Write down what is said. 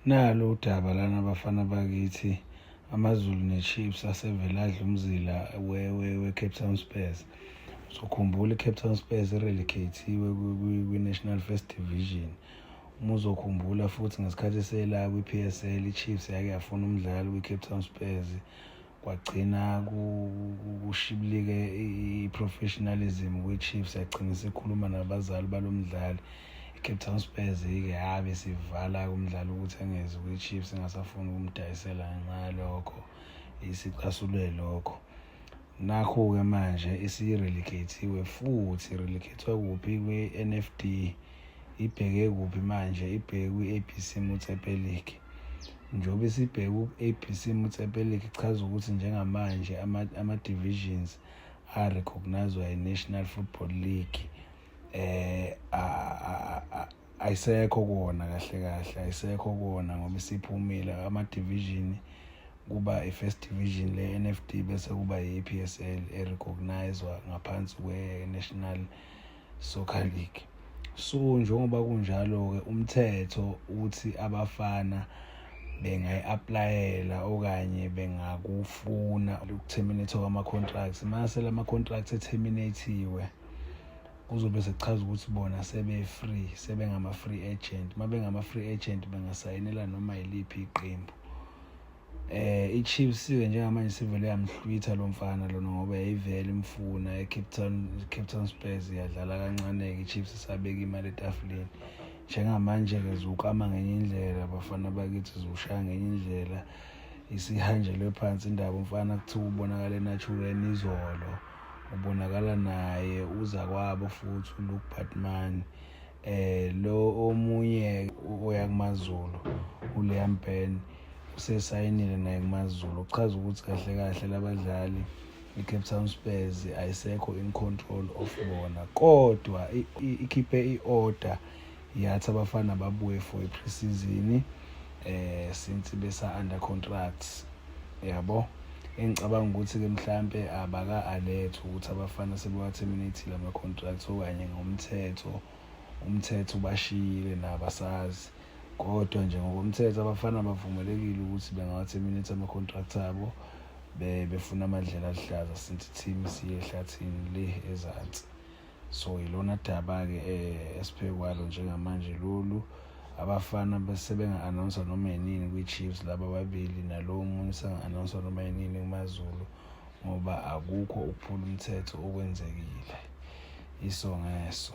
Nalo udaba lana abafana bakithi AmaZulu neChiefs asevele adla umzila we-Cape Town Spurs. Uzokhumbula iCape Town Spurs irelegathiwe kwi-National First Division. Uma uzokhumbula futhi ngesikhathi selakwi-PSL iChiefs yake yafuna umdlali kwi-Cape Town Spurs. kwagcina kushibilike i-professionalism kwi-chiefs yagcina sikhuluma nabazali balo mdlali i-cape town spurs-ke habe sivala umdlali ukuthi angezi kwi-chiefs engasafuni ukumdayisela ngenxa yalokho isicasule lokho nakho-ke manje isirelegate-iwe futhi relegate-wa kuphi kwi-nfd ibheke kuphi manje ibheke kwi-abc motsepe league Njengoba sibheka ku-ABC Motsepelik ichaza ukuthi njengamanje ama-divisions a-recognizwa yi-National Football League eh ayisekho kona kahle kahle ayisekho kona ngoba isiphumile ama-division kuba i-first division le-NFD bese kuba yi-PSL e-recognizwa ngaphansi kwe-National Soccer League. So njengoba kunjalo-ke umthetho uthi abafana bengayi-aplayela okanye bengakufuna ukutheminethwa kwama-contracts mase la ma-contract etheminathiwe kuzobe sekuchaza ukuthi bona sebe-free sebengama-free agent uma bengama-free agent bengasayinela noma yiliphi iqembu eh iChiefs ke njengamanje sivele yamhlwitha lo mfana lona ngoba yayivele imfuna eCape Town Cape Town Spurs yadlala kancane ke iChiefs isabeka imali etafuleni njengamanje ke zukama ngenye indlela bafana bakithi zushaya ngenye indlela isihanjelwe phansi indaba umfana kuthiwa ubonakala eNaturel izolo ubonakala naye uza kwabo futhi uLuke Batman eh lo omunye oyakumaZulu uLiam Ben usesayinile naye kumazulu okuchaza ukuthi kahle kahle labadlali i-cape town spurs ayisekho in control of bona kodwa ikhiphe i-order yathi abafana babuye for i-preseason eh since besa under contracts yabo engicabanga ukuthi ke mhlambe abaka alert ukuthi abafana sebewaterminatile ama contracts okanye ngomthetho umthetho ubashiyile nabasazi Kodwa nje ngokomthetho abafana bavumelekile ukuthi bengawatheminate ama-contract abo befuna amadlela aluhlaza since i-team siye ehlathini le ezansi so yilona daba-ke um esiphe kwalo njengamanje lolu abafana sebenga-announsa noma yinini kwi-chiefs laba ababili nalowo munye senga-announsa noma yinini kumazulu ngoba akukho ukuphula umthetho okwenzekile iso ngeso